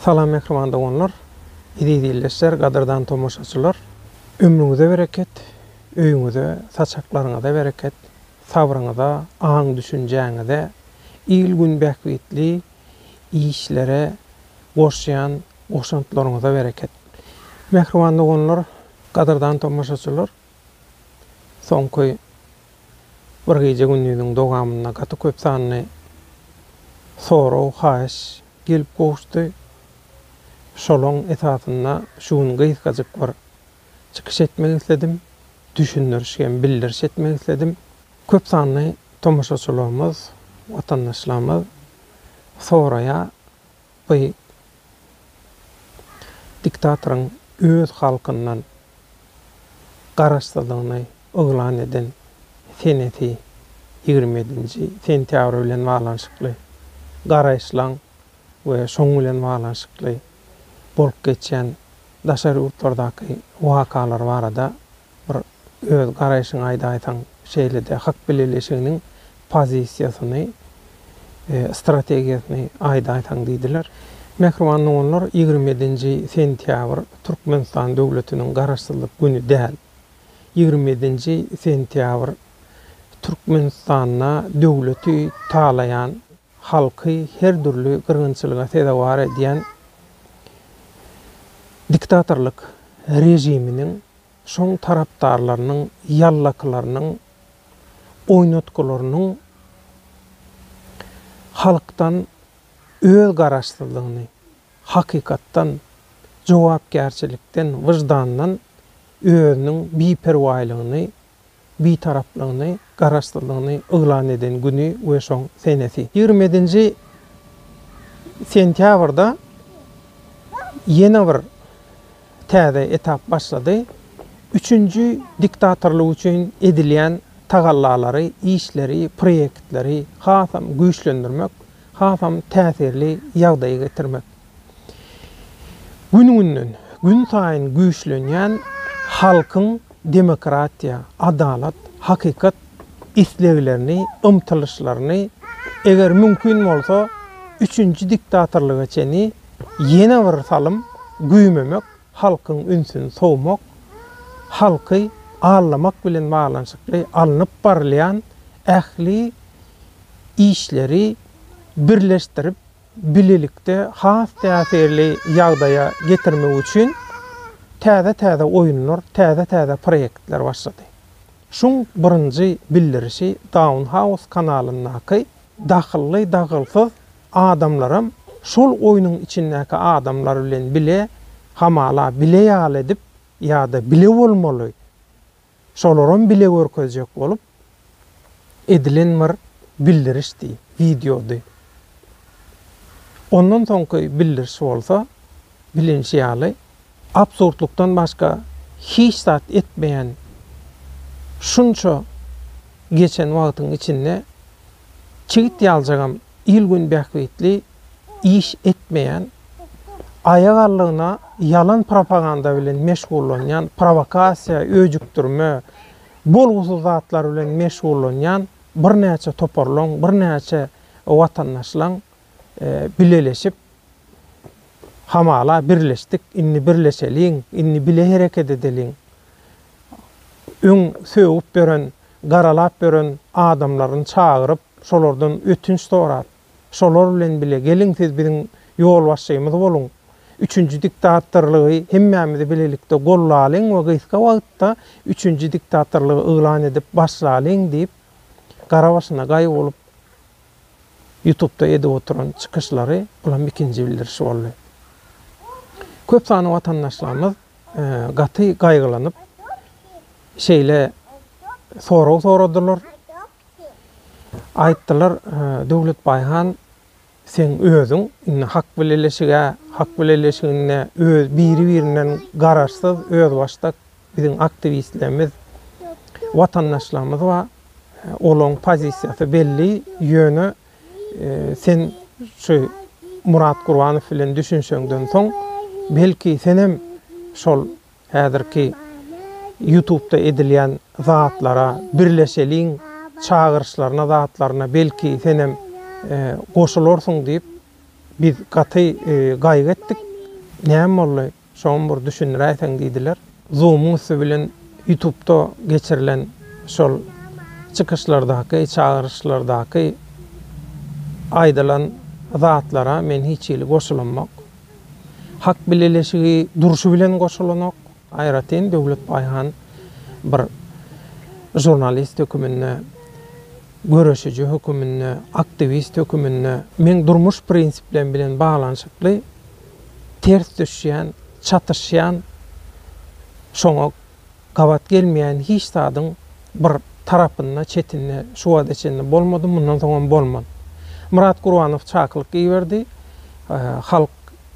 Salam mähriban doganlar, eziz ildeşler, gadyrdan tomaşaçylar! Ömrüňize bereket, öýüňize, saçaklaryňyza bereket, sabryňyza, aň-düşünjäňize, il-gün bähbitli işlere goşýan goşantlaryňyza bereket! Mähriban doganlar, gadyrdan tomaşaçylar! Soňky bir gije-gündiziň dowamynda gaty köp sanly sorag, haýyş gelip gowuşdy. Şolaň esasynda şu gün gysgajyk bir çykyş etmek isledim, düşündiriş hem bildiriş etmek isledim. Köp sanly tomaşaçylarymyz, watandaşlarymyz soraýar, By diktatoryň öz halkyndan garaşsyzlygyny yglan eden senesi ýigrimi ýedinji sentýabr bilen baglanyşykly garaýyşlaň we şoň bilen baglanyşykly bolup geçýän daşary ýurtlardaky wakalar barada Bir öz garaýşyňy aýdaýsaň, şeýle-de Hak bileleşiginiň pozisiýasyny, strategiýasyny aýdaýsaň diýdiler. Mähriban doganlar, ýigrimi ýedinji sentýabr Türkmenistan döwletiniň Garaşsyzlyk güni däl. Ýigrimi ýedinji sentýabr Türkmenistanda döwleti talaýan, halky her dürli gyrgynçylyga sezewar edýän diktatorlyk režiminiň Şoň tarapdarlarynyň, ýallakylarynyň, oýnatgylarynyň halkdan öz garaşsyzlygyny, hakykatdan, jogapkärçilikden, wyždandan özüniň biperwaýlygyny, Bitaraplygyny, Garaşsyzlygyny yglan eden güni we şoň senesi. Ýigrimedinji sentýabrda ýene bir täze etap başlady. Üçünji diktatorlyk üçin edilýän tagallalary, işleri, proýektleri hasam güýçlendirmek, hasam täsirli ýagdaýa getirmek. Gün-günden, günsaýyn güýçlenýän halkyň demokratiýa, adalat, hakykat isleglerini, ymtylyşlaryny, eger mümkin bolsa, üçünji diktatorlyga çenli ýene bir salym güýmemek, halkyň ünsüni sowmak, halky aldamak bilen baglanyşykly alnyp barylýan ähli işleri birleşdirip, bilelikde has täsirli ýagdaýa getirmek üçin täze-täze oýunlar, täze-täze proýektler başlady. Şuň birinji bildirişi Downhouse kanalyndaky dahylly dahylsyz adamlaram şol oýnuň içindäki adamlar bilen bile hamala bile ýaly edip ýa-da bile bolmaly, Şolaram bile görkezjek bolup edilen bir bildirişdi, wideody. Ondan soňky bildiriş bolsa, bilinişi ýaly, absurdlykdan başga hiç zat etmeýän şunça geçen wagtyň içinde çigit ýaljagam il-gün bähbitli iş etmeýän, aýagallygyna ýalan propaganda bilen meşgullanýan, prowokasiýa, öjükdirme, bolgusyz zatlar bilen meşgullanýan birnäçe toparlaryň, birnäçe watandaşlaryň bileleşip, hamala, birleşdik, indi birleşeliň, indi bile hereket edeliň, öň sögüp ýören, garalap ýören adamlaryny çagyryp, şolardan ötünç sorap, Şolar bilen bile, geliň siz biziň ýolbaşçymyz boluň, üçünji diktatorlygy hemmämizi bilelikde gollalyň we gysga wagtda üçünji diktatorlygy yglan edip başlalyň diýip, gara başyna gaý bolup ýutupda edip oturan çykyşlary, bulam ikinji bildirişi boldy. Köp sanly watandaşlarymyz gaty gaýgylanyp, şeýle sorag soradylar. Aýtdylar, Döwletbaý han, seň özüň indi hak bileleşig-ä, hak bileleşiginde öz biri-birinden garaşsyz, özbaşdak biziň aktiwistlerimiz, watandaşlarymyz bar. Olaryň pozisiýasy belli, ýöne sen şu Murat Gurbanow bilen düşünşeňden soň, belki, senem şol Häzirki ýutubda edilýän zatlara birleşeliň çagyryşlaryna zatlaryna belki senem goşularsyň diýip biz gaty gaýgy etdik näme boldy şoňam bir düşündiräýseň diýdiler. Zoomuň üsti bilen ýutubda geçirilen şol çykyşlardaky çagyryşlardaky aýdylan zatlara men hiç hili goşulamok. hak bileleşigi durşy bilen goşulanok. Aýratyn Döwlet Baýhan bir žurnalist höküminde, göreşiji höküminde, aktiwist höküminde meň durmuş prinsiplerim bilen baglanyşykly ters düşýän, çatyşýan, şoňa Gabat gelmeýän hiç zadyň bir tarapynda, çetinde şu wagta çenli bolmady, mundan soňam bolmaz. Myrat Gurbanow çakylyk iberdi. Halk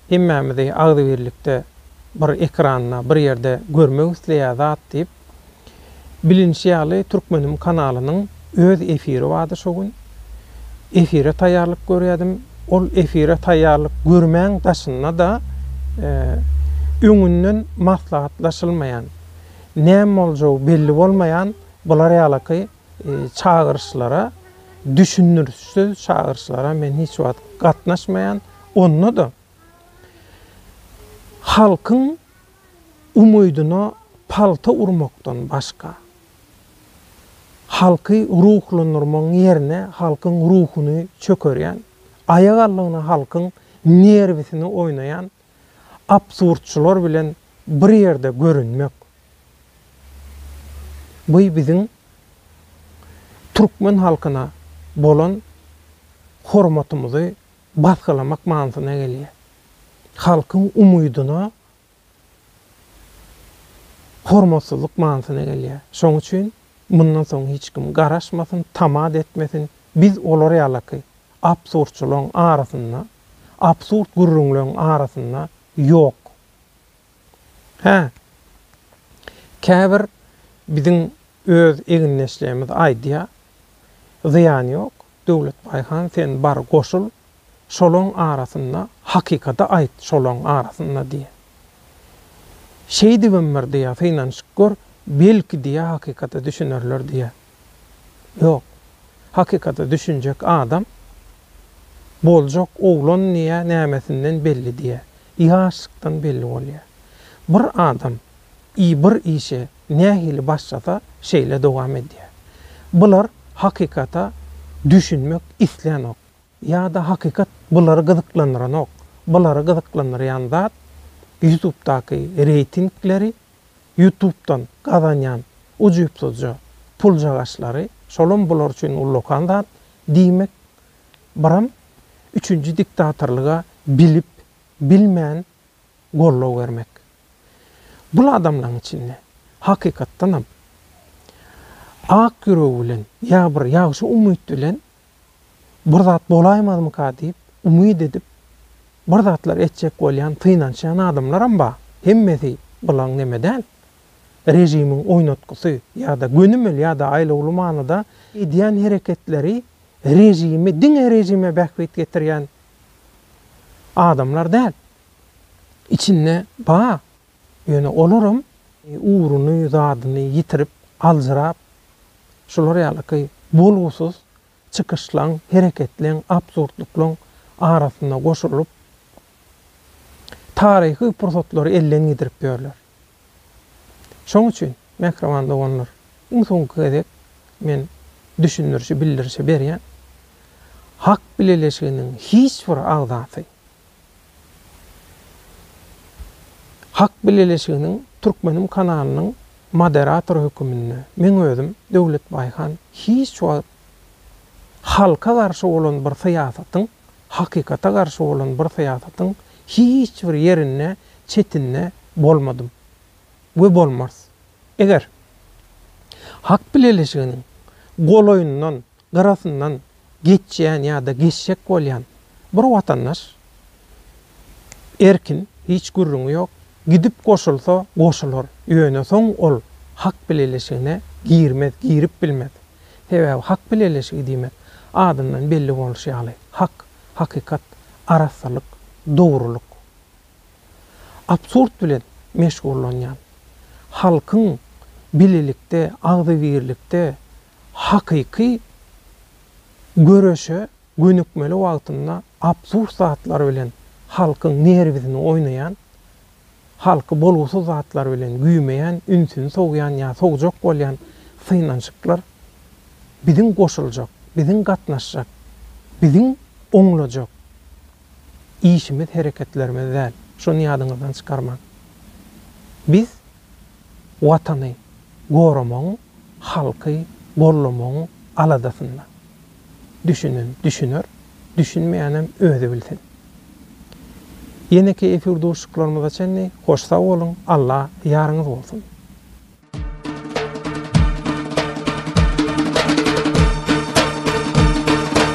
hemmämizi agzybirlikde bir ekranda, bir ýerde görmek isleýär zat diýip, bilinişi ýaly Türkmenim kanalynyň, Öz efiri bardy şo gün. Efire taýýarlyk görýärdim. Ol efire taýýarlyk görmäň daşynda-da, öňünden maslahatlaşylmaýan, näme boljagy belli bolmaýan bular ýalaky çagyryşlara, düşündirişsiz çagyryşlara men hiç wagt gatnaşmaýan. Onda-da halkyň umydyna palta urmakdan başga. Halky ruhlandyrmagyň ýerine halkyň ruhuny çökerýän, aýak aldygyna halkyň nerwisini oýnaýan absurdçylar bilen bir ýerde görünmek, bu biziň türkmen halkyna bolan hormatymyzy basgylamak manysyna gelýär. Halkyň umydyna hormatsyzlyk manysyna gelýär. Şonuň üçin mundan soň hiç kim garaşmasyn, tamat etmesin, biz olar ýalaky absurdçylaryň arasynda, absurd gürrüňleriň arasynda ýok. Hä, käbir biziň öz egindeşlerimiz aýdýar, Zyýany ýok, Döwletbaý han sen bar goşul şolaň arasynda hakykady aýt şolaň arasynda diýýä. Şeýdibem bir diýýä synanyşyp gör belki diýýä hakykata düşünerler diýýä. Ýok. Hakykata düşünjek adam boljak oglan diýýä nämesinden belli diýýä. Ýaşlykdan belli bolýa. Bir adam I bir işe nähili başlasa şeýle dowam edýär. Bular hakykata düşünmek islänok. Ýa-da hakykat bulary gyzyklandyranok. Bulary gyzyklandyrýan zat ýutubdaky reýtingleri, ýutubdan gazanýan ujypsyzja puljagaçlary, şolam bular üçin ullakan zat. Diýmek, biram üçünji diktatorlyga bilip, bilmän goldaw bermek. Bul adamlaň içinde, hakykatdanam, ak ýüregi bilen ýa bir ýagşy umyt bilen bir zat bolaýmazmyka diýip umyt edip bir zatlar etjek bolýan, synanşýan adamlaram bar. Hemmesi bulaň neme däl, režimiň oýnatgysy ýa-da gönümel ýa-da aýlawly manyda edýän hereketleri režimi diňe režime bähbit getirýän Adamlar däl. Içinde bar. Ýöne olaram ugruny, zadyny ýitirip, aljyrap, şular ýalyky bolgusyz çykyşlaň, hereketleň, absurdlyklaň arasyna goşulyp, taryhy pursatlary elden gidirip ýörler. Şoň üçin, mähriban doganlar, iň soňky gezek men düşündirişi, bildirişi berýän. Hak bileleşiginiň hiç bir agzasy Hak bileleşiginiň Türkmenim kanalynyň moderatory höküminde men özüm Döwlet Baýhan hiç wagt halka garşy bolan bir syýasatyň hakykata garşy bolan bir syýasatyň hiç bir ýerinde çetinde bolmadym we bolmarys. Eger Hak bileleşiginiň golaýyndan, gyrasyndan geçýän ýa-da geçjek bolýan bir watandaş, erkin, hiç gürrüňi ýok, gidip goşulsa goşular, ýöne soň ol Hak bileleşigine girmez, girip bilmez. Sebäbi hak bileleşigi diýmek, adyndan belli bolşy ýaly, hak, hakykat, arassalyk, dogrulyk. Absurd bilen meşgullanýan, halkyň bilelikde, agzybirlikde hakyky göreşe gönükmeli wagtynda absurd zatlar bilen halkyň nerwisini oýnaýan Halky bolgusyz zatlar bilen güýmeýän, ünsüni sowýan ýa sowjak bolýan synanyşyklar biziň goşuljak, biziň gatnaşjak, biziň oňlajak işimiz, hereketlerimiz däl. Şony ýadyňyzdan çykarmaň. Biz Watany goramagyň, halky gollamagyň aladasynda. Düşünen düşüner, düşünmeýänem özi bilsin. Ýeneki efir duşuşyklarymyza çenli hoş sag boluň, Alla ýaryňyz bolsun!